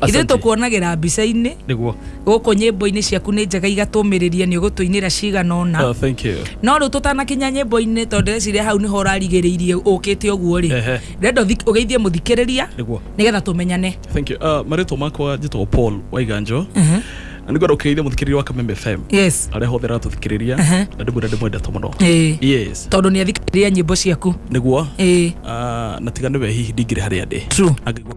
ithuĩ Asante. tũkuonagĩra mbica-inĩ niguo gũkũ nyĩmbo-inĩ ciaku nĩ njega igatũmĩrĩria nĩ ũgũtũinĩra cigana ũna Ah, thank you no rĩu tũtanakinya nyĩmbo-inĩ tondũ ndĩreciria hau nĩho ũrarigĩrĩirie ũkĩte ũguo rĩ Ehe. renda ũthi- ũgeithie mũthikĩrĩria niguo nĩgetha tũmenyane thank you uh, marĩtwa makwa njĩtagwo paul waiganjo na nĩ ngwenda gũkĩrĩithia mũthikĩrĩria wa kameme fm yes arĩa hothe ratũthikĩrĩria Ehe. na ndĩmwĩra ndĩmwendete mũno Ĩĩ. yes tondũ nĩ athikĩrĩria nyĩmbo ciaku niguo Ĩĩ. uh, na tiga nĩwe hihi ndingĩrĩ harĩa ndĩ true Angĩgua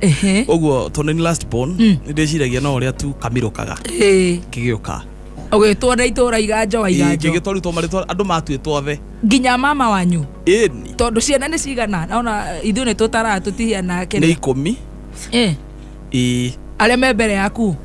Ehe. ũguo tondũ nĩ last born nĩ ndĩciragia no ũrĩa tu kamĩrũkaga Ĩĩ. kĩgĩũka ũgĩtwo na itũra iganjo wa iganjo kĩgĩtwa rĩu twamarĩtwa andũ matuĩtwo othe nginya mama wanyu ĩni tondũ ciana nĩ cigana ona ithuĩ nĩ tũtaraga tũtihiana nĩ kene ikũmi Eh, ĩĩ arĩa me mbere yaku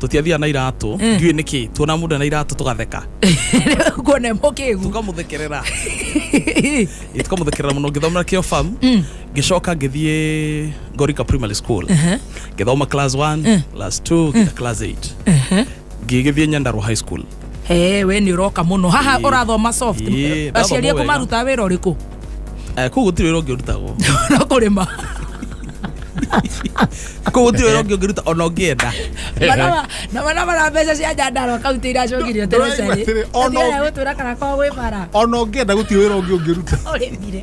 tũtiathiaga na iratũ ndiũĩ nĩkĩ tuona mũndũ ena iratũ tũgatheka kuona mo kĩgu tũkamũthekerera Ĩ, tũkamũthekerera mũno ngĩthomera kĩo farm ngĩcoka ngĩthiĩ ngorika primary school ngĩthoma class 1 class 2 nginya class 8 ngĩgĩthiĩ nyandarua high school Eh, we nä å roka må no haha Ĩĩ. å rathoma soft Ĩĩ, ndathoma aciari aku wega. maruta wä ra å rä kå Eh, kũu gũtirĩ wĩra ũngĩ ũrutagwo no kå rä ma kũu gũtirĩ wĩra ũngĩ ũngĩruta ona ũngĩenda na mana mara mbeca cia njandarwa kauntä iracokirio Ndũraigua atĩrĩ, ona ũngĩ- gå twä ra kana kwa gwä bara ona ũngĩenda gũtirĩ wĩra ũngĩ ũngĩruta å rä mire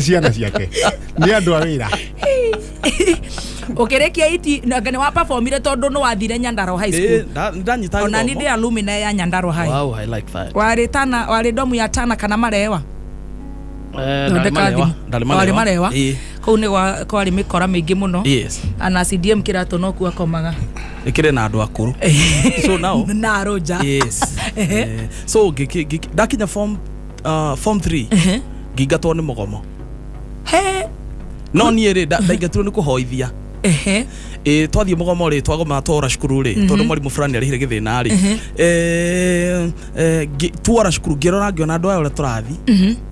ciana ciake nä andå a wä ra ukirikia iti na nĩ wa performire tondũ nĩ wathire nyandaro high school Eh, nda- ndanyita ona nĩ gĩthomo. ndĩ alumina ya nyandaro high Wow, I like that. warĩ tana warĩ domu ya tana kana marewa Eh, ndarĩ thondeka marewa, thimũ ndarĩ warĩ marewa. marewa Ĩĩ, kũu nĩ gwa- kwarĩ mĩkora mĩingĩ mũno yes. ana cdm kĩratũ no kuo akomaga ĩkĩrĩ na andå akå rå so now na arũnja yes. Eh, so ngĩki- ngĩki- ndakinya form uh, form 3 Ehe. ngingatwo nĩ mũgomo He. no niĩ rĩ nda- ndaingatirwo nĩ kũhoithia Ehe. Eh, twathiĩ mũgomo rĩ twagoma twora cukuru rĩ tondũ mwarimũ fulani arĩhire gĩthĩna rĩ Eh, eh, ngĩ- twora cukuru ngĩrora ngĩona andũ aya ũrĩa tũrathi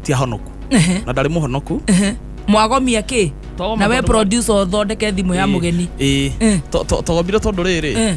ti ahonoku Ehe. na ndarĩ mũhonoku Ehe. mwagomia kä Twagoma na we tondũ- producer ũthondeke thimå ya må geni Eh, Eh. to- to- twagomire tondũ rĩrĩ Eh.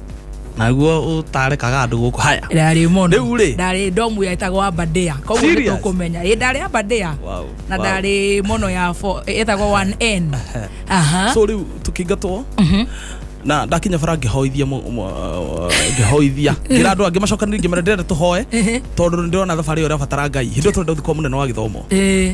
naguo utarekaga andu guku haya ndarä må ndå Rĩu rĩ? ndarä ndomu yetagwo ambadea koguo nä Serious? tå kå menya ä ndarä ambadea Wow, na wow. ndarä mono ya fo- ĩtagwo one n aha so riu tukingatwo na ndakinya bara ngihoithia mu- mu- uh, ngihoithia ngira andu angi macokanire ngimera ndirenda tuhoe tondu ndirona thabari urabatara ngai hindi tondå thikwo munene wa githomo Ĩĩ.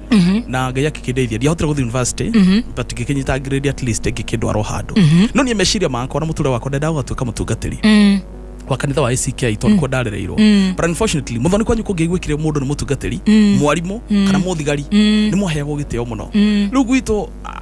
na ngai akĩkĩndeithia ndiahotire gũthiĩ university but ngĩkĩnyita grade at least ngĩkĩndwarwo handũ no niĩ meciria makwa na mũtũrĩre wakwa ndendaga gũgatuĩka mũtungatĩri Mm. wa kanitha wa ACK tondũ kuo ndarereirwo but unfortunately mũthoni kwanyu kũngĩaiguĩkire mũndũ nĩ mũtungatĩri mwarimũ kana mũthigari nĩ mwaheagwo gĩtĩo mũno rĩu gwitũ ah,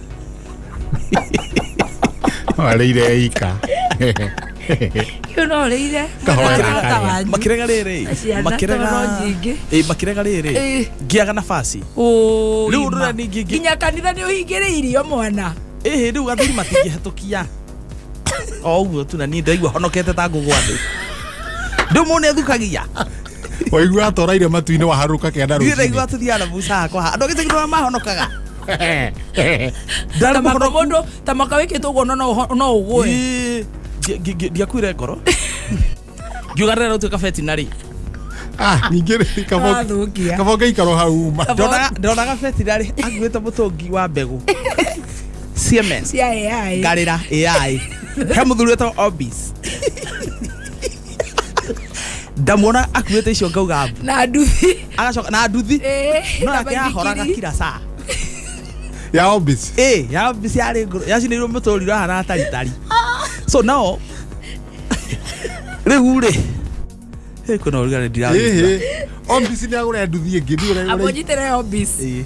Warĩire ika. Rĩu no ũrĩire Kahora mũthaka karĩa. tawanyu. makirega riri Ciana makirega toro nyingĩ. Eh, makirega riri Eh. ngiaga nabasi Ũũ, Rĩu ima. rũra ningĩ- nginya kanitha nĩ ũhingĩre irio mwana ĩhĩ rĩu athuri matingĩhetũkia o ũguo tu na niĩ ndaigua honokete ta ngũgwa thĩ ndũ mũũ nĩ athukagia Waigua atũraire matu-inĩ waharũka kĩanda niĩ ndaigua rũcinĩ. tũthiaga na buca hakwa andũ agĩcagirwo mahonokaga Ndarĩ tamaka mũhonoku. mundu tamaka wikitwo guo no no- no ugwe Ii, ndi- ndi- ndi- ndiakuire ngoro ngiuga rĩrĩa rũtuĩka betinarĩ Ah, ningĩ rĩ, kabo- Wathukia. kabo ngaikaro hau uma ndonaga betinarĩ akuĩte mũtũngi wa mbegũ siemens cia ai ngarĩra ai he mũthuri wetagwo obis ndamuona akuĩte icio ngauga mbu. na nduthi agacoka na nduthi Ĩĩ, no na yake yahoraga maithikiri. kira saa ya obisi ĩ ya mbici yarĩ ngũrũ yacinĩirwo mũtũri ũrahana ataritari so nao rĩu rĩ ĩ kwĩna ũrugarĩ ndiraigua ĩhĩ obisi nĩ agũra nduthi ĩngĩ nĩ ũrĩa- ũrĩa- amũnyitĩre obisi